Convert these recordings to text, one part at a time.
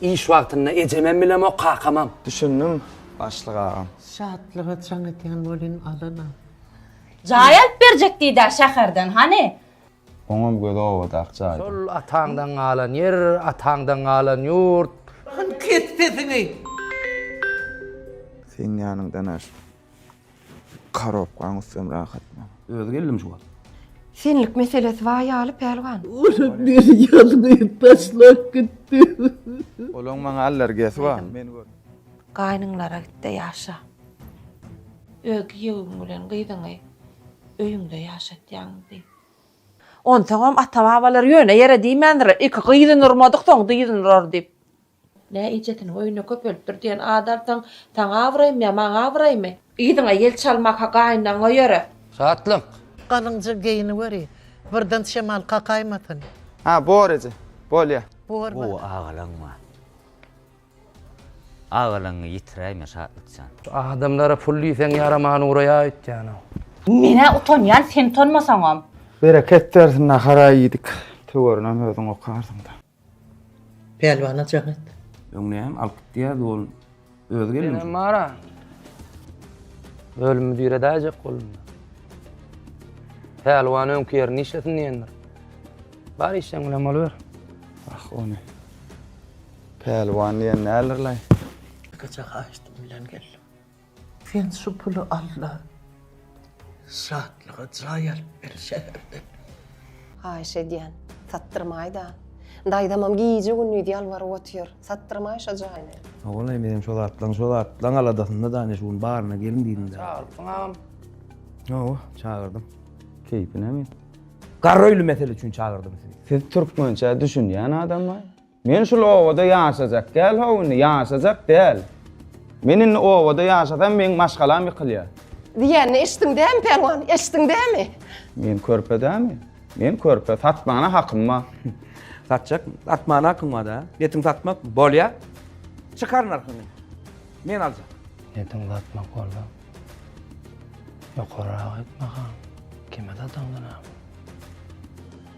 Iş wagtynda ejemem bilemok, kakamam. Düşündim, başlyk agam. Şatlyga jaň edýän welin alana. Jaý alyp berjek diýdä şäherden, hany? Oňam gözi owadak jaýda. Şol ataňdan galan ýer, ataňdan galan ýurt. Hany kes sesiňi! Seň ýanyňdan aş. Karobkaň üstem rahat men. Özi geldim şu wagt. Senlik meselesi bar ýaly Pälwan. Olam meni ýalňyz taşlap gitdi. Olaň maňa allergiýasy bar. Men gördim. Gaýnyňlara gitde ýaşa. Öz giýewiň bilen gyzyňy öýüňde ýaşatýaňmy diý. Onsoňam ata-babalar ýöne ýere diýmändirler, iki gyzyny urmadyksoň dyzyny urar diýip. Nä ejesiniň öýüne köpelipdir diýen at alsaň, saňa abraýmy ýa maňa abraýmy? Yzyňa ýel çalmak-a gaýynlaňňa ýöre. Şatlyk! Galyňja geýiniweri, birden şemal kakaýmasyn. Hä, bor eje, bolýa. Bor, bor. Gowy agalaň bar. Agalaňňy ýitiräýme Şatlyk jan. Şu adamlara pul diýseň ýaraman uraýar öýtýänow. Men-ä utanýan, sen utanmasaňam. Bereket bersin nahar-a iýdik. Töwerinem özüň okarsyň-da. Pälwana jaň et. Öň näme alyp gitýärdi ol özi gelin üçin. Senem bara. Ölümi diredäýjek bolunda. Pälwan öňki ýerini işlesin diýendir. Bar işjeň bilen boluber. Ah ony Pälwan diýen däldirlaý. Iki çaga aýşdym bilen geldim. Sen şu puly al-da, Şatlyga jaý alyp ber şäherde. Haýyş edýän, satdyrmaý-da. Daýzamam gije-gündiz ýalbaryp otyr, satdyrmaý şo jaýyny. Ogulaý, menem şo zatlaň, şo zatlaň aladasynda dane şu gün baryna gelin diýdim-dä. Çagyrypsyň agam? Hawa, çagyrdym. Keýpi näme? Garraöýli mesele üçin çagyrdym sizi. Siz türkmençä düşünýän adamlaý. Men şul obada ýaşajak däl how indi, ýaşajak däl. Men indi obada ýaşasam meň maşgalam ýykylýa. Diýenini eşitdiň dämi Pälwan, eşitdiň dämi? Men körpe dämi? Men körpe, satmana hakym bar. Satjak, satmana hakyň barda. Netiň satmak? Bolýa. Çykar narhyňy. Men aljak. Netiň satmak bolsa? Ýokaryrak aýt bakalym. Kime sataňdanam?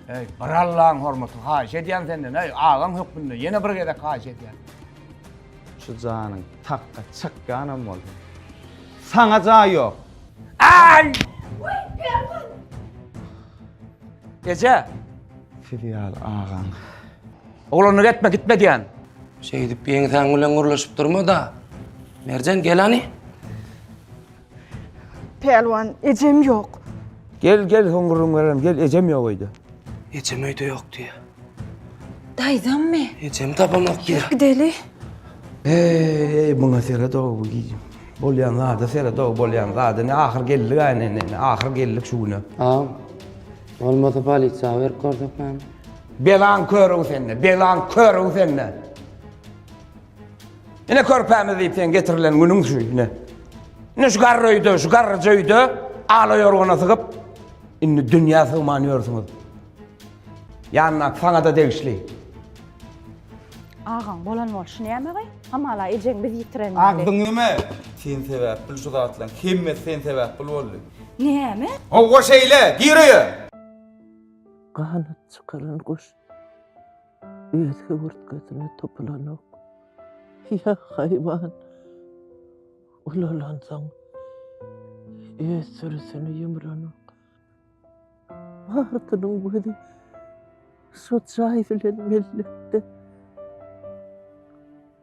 Eý, bir Allaň hormaty, haýyş edýän senden, eý, agaň hökmünde, ýene bir gezek haýyş edýän. Şu janyň takga çykýanam bolsa, saňa jaý ýok! Aý! Uý, Perman! Eje! Sizi ýaly agaň. Oglanyna getme, gitme diýän. Şeýdip ýeňsäň bilen gürleşip durma-da. Merjen, gel hany! Pälwan, ejem ýok. Gel, gel, hoňrugyň berem, gel, ejem ýok öýde. Ejem öýde ýok diýýär. Daýzammy? Ejemi tapamok diýýär. Ýör, gideli. Eý, muňa seret-ow, bu gijim. Bolýan zada seret-ow, bolýan zada. Ine, ahyr geldik-ä, ine, ine, ine, ahyr geldik şu güne. Agam, bolmasa polisiýa berip görsek näme? Belaň kör-ow sende, belaň kör-ow sende! Ine körpämiz diýip sen getirilen günüň şu ine. Ine şu garry öýde, şu garryja öýde ala ýorgana sygyp, indi dünýä sygman ýörsüňiz. Ýanyna saňa-da degişli. Agaň bolan bolşy näme gaý? Hamala ejeň biz ýitiren ýaly. Agzyň näme? Sen sebäpli şu zatlaryň hemmesi sen sebäpli boldy. Näme? Howwa şeýle, gir öýe! Ganyp çykaran guş. öz höwürtgesine topulanok. Ýa haýwan ulalansoň öz sürüsini ýumranok. Martynyň gözi şo jaý bilen mellekde.